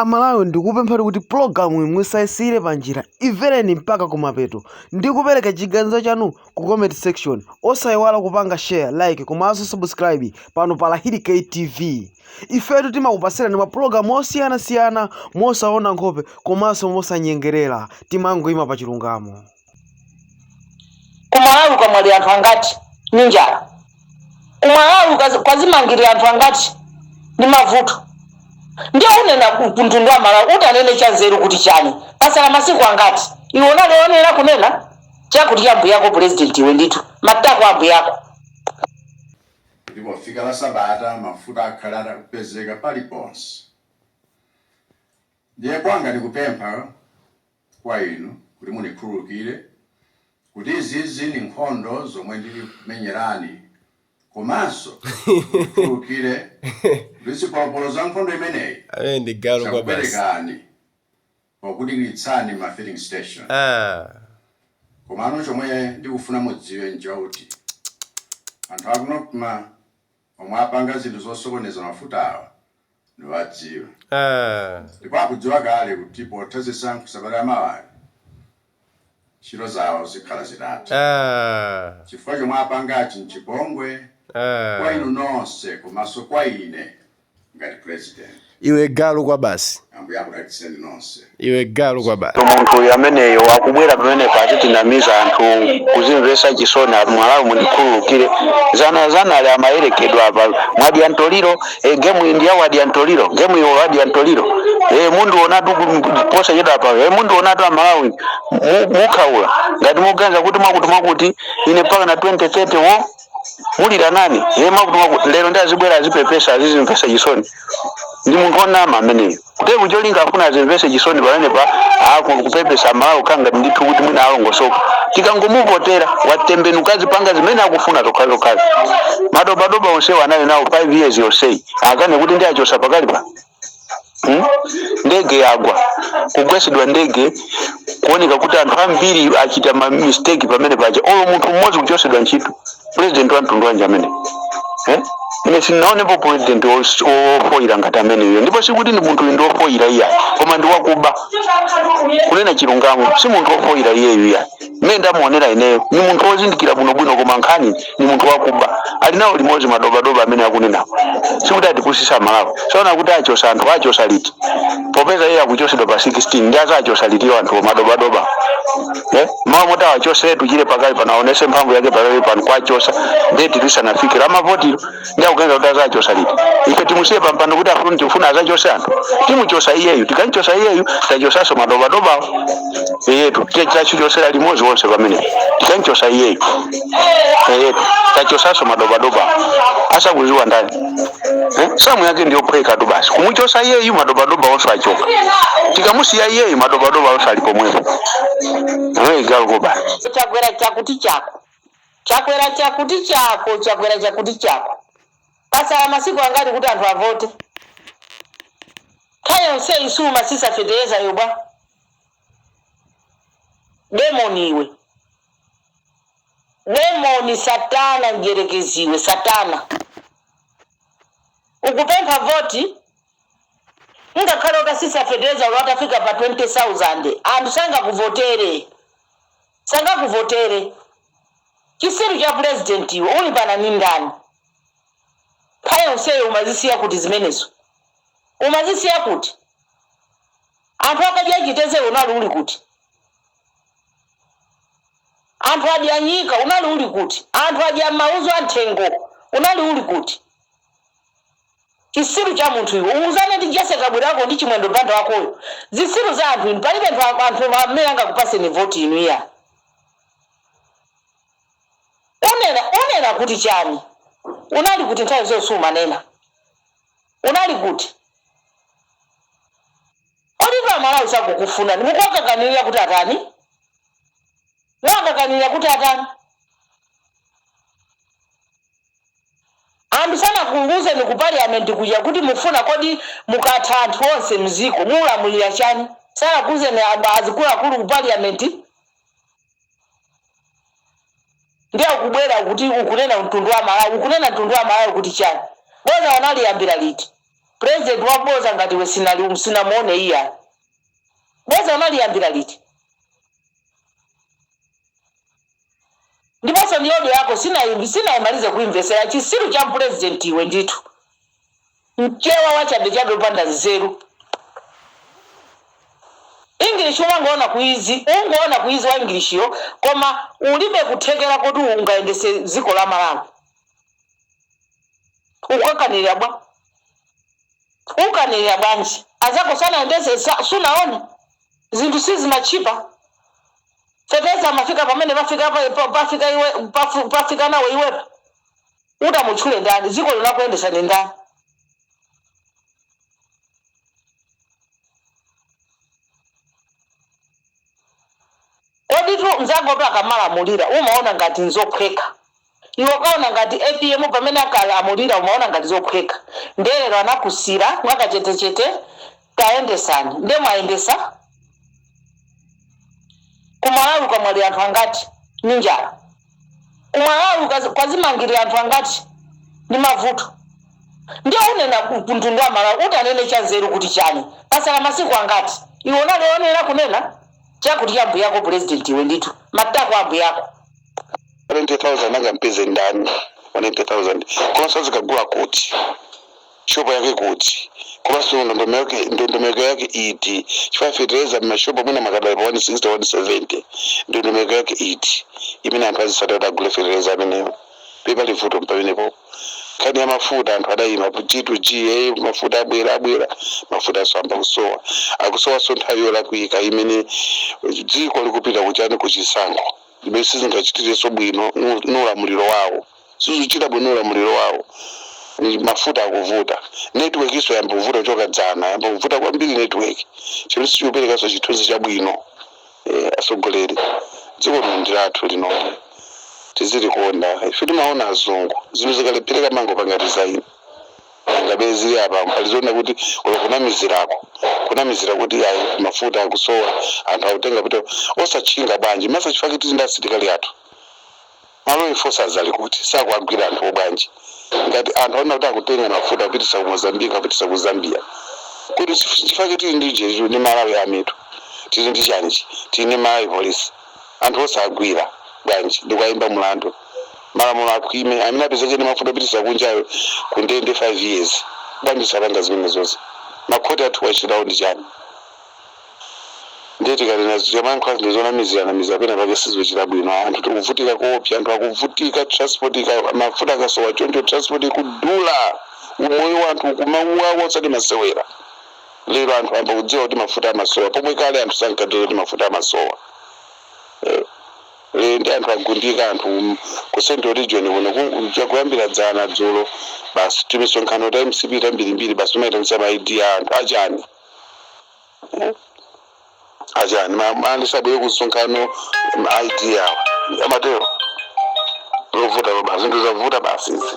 Amalawi ndikupempha kuti pulogalamuyi musaisiyire panjira, imvereni mpaka kumapeto ndi kupereka chiganizo chanu ku comment section. Osaiwala kupanga share, like komanso subscribe pano pa Lahiri K TV. Ifetu timakupasirani mapulogalamu osiyanasiyana mosaona nkhope komanso mosanyengerera, timangoima pa chilungamo. Kumalawi kwamwalira anthu angati ndi njala? Kumalawi kwazimangirira anthu angati ndi mavuto? Ndiye unena ku mtundu wa Malawi utanene chanzeru kuti chani? Pasala masiku angati? Iwe unali oyenera kunena chakuti cha ambuyako pulezidenti iwe ndithu. Matako a ambuyako. Kuti pofika la sabata mafuta akhale atakupezeka paliponse. Ndiye kwanga ndikupempha. kwa inu kuti munikhululukire kuti izizi ni nkhondo zomwe ndili kukumenyerani komanso munikhululukire kuti zipolopolo za nkhondo imeneyi Ameneyo ndi galu kwa basi. zakupwetekani pokudikilitsani ma filling station. Ah. Komano chomwe ndikufuna mudziwe nchakuti anthu aku Nocma Omwe apanga zinthu zosokoneza mafutawa ndiwadziwa ndipo akudziwa kale kuti potha zisankho sabata yamawayi ntchito zawo zikhala zitatha chifukwa chomwe apangachi nchipongwe kwa inu nonse komaso kwa ine. ngati president iwe galu kwabasi ambuye akudalitseni nonse iwe galu kwabasi munthu uyu ameneyo akubwera pamene kutinamiza anthu kuzimvesa chisoni ati Amalawi mundikhululukire dzana dzana ali amayerekedwa apa mwadya ntoliro e, gemu iyi ndiya wadya ntoliro gemu iwo wadya ntoliro e, mundionatu posachedwa apa e, mundionatu amalawi mu- mukhaula ngati muganiza kuti mwakuti mwakuti ine mpaka na 2030 wo ulira nani iye mwakuti lero ndiye azibwera azipepesa azizimvesa chisoni ndi munthu onama ameneyo kuti cholinga afuna azimvese chisoni pamene pa ako kupepesa amalawi kukhala ngati ndithu kuti mwina alongosoka tikangomuvotera watembenuka azipanga zimene akufuna zokhazokhazi madobadoba onsewo anali nawo 5 years yonseyi akane kuti ndawachosa pakali pa hmm? ndege yagwa kugwesedwa ndege kuoneka kuti anthu ambiri achita ma mistake pamene paja olo munthu mmodzi kuchosedwa ntchito president wa mtundu wanji ameneyo? ine sinaonepo president wofoyira ngati ameneyo ndipo sikuti ndi munthu ndi wofoyira iyayi koma ndi wakuba kunena chilungamo si munthu wofoyira iyeyo iyayi mmene ndamuonera ineyo ni munthu wozindikira bwinobwino koma nkhani ni munthu wakuba ali nawo limodzi madobadoba amene akunena sikuti atipusisa Amalawi saona kuti achosa anthu achosa liti popeza iye akuchosedwa pa 16 ndiye azawachosa litiyo anthu madobadoba Eh, mawa moti awachosetu tchire pakali pano aonese mphamvu yake pakali pano kuwachosa deti lisanafike lamavotiro ndi akuganiza kuti azachosa liti ife timusiye pampando kuti afune tifuna azachosa anthu timuchosa iyeyu tikamchosa iyeyu tachosaso madobadobawo eyetu tachichosera limodzi wonse pamene tikamchosa iyeyu eyetu tachosaso madobadobawo asakuziwa ndani eh? samu yake ndiyophweka tu basi kumuchosa iyeyu madobadoba wonse achoka tikamusiya iyeyu madobadoba wonse ali pomwepo iwe galu basi chakwera chakuti chako Chakwera chakuti chako chakwera chakuti chako pasala masiku angati kuti anthu avote nthawi yonseyi sumasisa fetereza yo bwanji demoni iwe demoni satana mdyerekezi iwe satana ukupempha voti ngakhale utasisa fetereza olo atafika pa 20000 anthu sangakuvotere Sangakuvotere. Chisiru cha president iwe ulimbana ndi ndani? Nthawi yonseyo umazisiya kuti zimenezo? Umazisiya kuti? Anthu akadya chitedze unali uli kuti? Anthu adya nyika unali uli kuti? Anthu adya mauzu a nthengo unali uli kuti? Chisiru cha munthu iwe. Uwuzane ndi Jesse Kabwila wako ndi Chimwendo Banda wakoyo. Zisiru za anthu inu. Palibe nthu anthu amene angakupaseni voti inu iya. Unena unena kuti chani? Unali kuti nthawi zonse sumanena? Unali kuti? Kodi pa Malawi sakukufunani mukuwakakamira kuti atani? Muwakakamira kuti atani? Anthu sanakuuzeni ku parliament kuja kuti mufuna kodi mukatha anthu onse mziko mulamulira chani sanakuuzeni azikuluakulu ku parliament ndiye ukubwera kuti ukunena mtundu wa Malawi ukunena mtundu wa Malawi kuti chani boza unaliyambira liti president wa boza ngati iwe sinali sinamuone iya boza unaliyambira liti Ndiponso ndi audio yako sinayi sinayimalize kuimvesera chisiru cha president iwe ndithu mchewa wachabechabe opanda nzeru English umangoona kuizi ungoona kuizi wa English yo koma ulibe kuthekera koti ungaendese dziko la Malawi ukakamira bwa ukakamira bwanji azako sanaendese sa- sunaone zinthu sizimatchipa fetereza amafika pamene pafika pa- pa- pafika iwe pafu- pafika nawo iwepo utamutchule ndani dziko linakuyendesa ndi ndani kodi tu mzako akamalamulira umaona ngati nzophweka Iwe ukaona ngati apm pamene ankalamulira umaona ngati zophweka nde lero anakusiyira mwakachetechete kayendetsani nde mwayendetsa kumalawi kwamwalira anthu angati ndi njala kumalawi kwazimangilira anthu angati ndi mavuto nde unena kumtundu wa malawi ukanene chanzeru kuti chani patsala masiku angati iwe unali oyenera kunena chakuti cha mbuyako president iwe ndithu matako ambuyako. 20,000 angampeze ndani? 20,000 komanso azikagula kuti shopo yake kuti komanso ndondomeko yake- ndondomeko yake iti chifukwa fetereza mmashopo mwina akadali pa 160 170 ndondomeko yake iti imene anthu azitsata kuti agule fetereza amenewo pali vuto pamenepo nkhani ya mafuta anthu adayimba g2g mafuta abwera abwera mafuta ayamba kusowa akusowanso nthawi yolakwika imene dziko likupita kuchani kuchisankho zimene sizingachitirenso bwino ndi ulamuliro wawo sizikuchita bwino ulamuliro wawo Ni mafuta akuvuta network nso yamba kuvuta kuchoka dzana yamba kuvuta kwambiri network chimene sichikuperekanso chithunzi chabwino eh, atsogoleri dziko lino ndi lathu lino tizilikonda ife timaona azungu zinthu zikalephereka amangopanga resign ngati zili apa pali zoona kuti olo kunamizirako kunamizira kuti ayi mafuta akusowa anthu akutenga kuti osatchinga bwanji man chifukwa tili ndi asilikali athu ma law enforcers ali kuti sakuwagwira anthu obwanji ngati anthu aona kuti akutenga mafuta kupititsa ku mozambique kupititsa ku zambia kuti chifukwa kuti tili ndi jeju ndi malawi army tu tili ndi chani tili ndi malawi polisi Anthu osagwira bwanji ndikuwaimba mulandu? Malamulo akhwime, amene apezeke ndi mafuta akupititsa kunjayo ku ndende 5 years. Bwanji osapanga zimenezo? Ma court athuwa ntchito yawo ndi chani? Ndiye tikanena tikamayankhula zinthu zonamizira namizira pena pake sizikuchita bwino ayi. Anthu tikuvutika koopsa, anthu akuvutika transport mafuta akasowa choncho transport ikudula, umoyo wa anthu ukumauwawa osati masewera. lero anthu ayamba kudziwa kuti mafuta amasowa pomwe kale anthu sankadziwa kuti mafuta amasowa eh. ndiye ndi anthu agundika anthu um, ku central region kuno ku- cha kuyambira dzana dzulo basi timisonkhano ta mcp tambirimbiri basi tumaitanitsa ma id a anthu achani achani Ma- ma- anthu asabwere kumsonkhano ma id awo amatero zavuta basi zinthu zavuta basi izi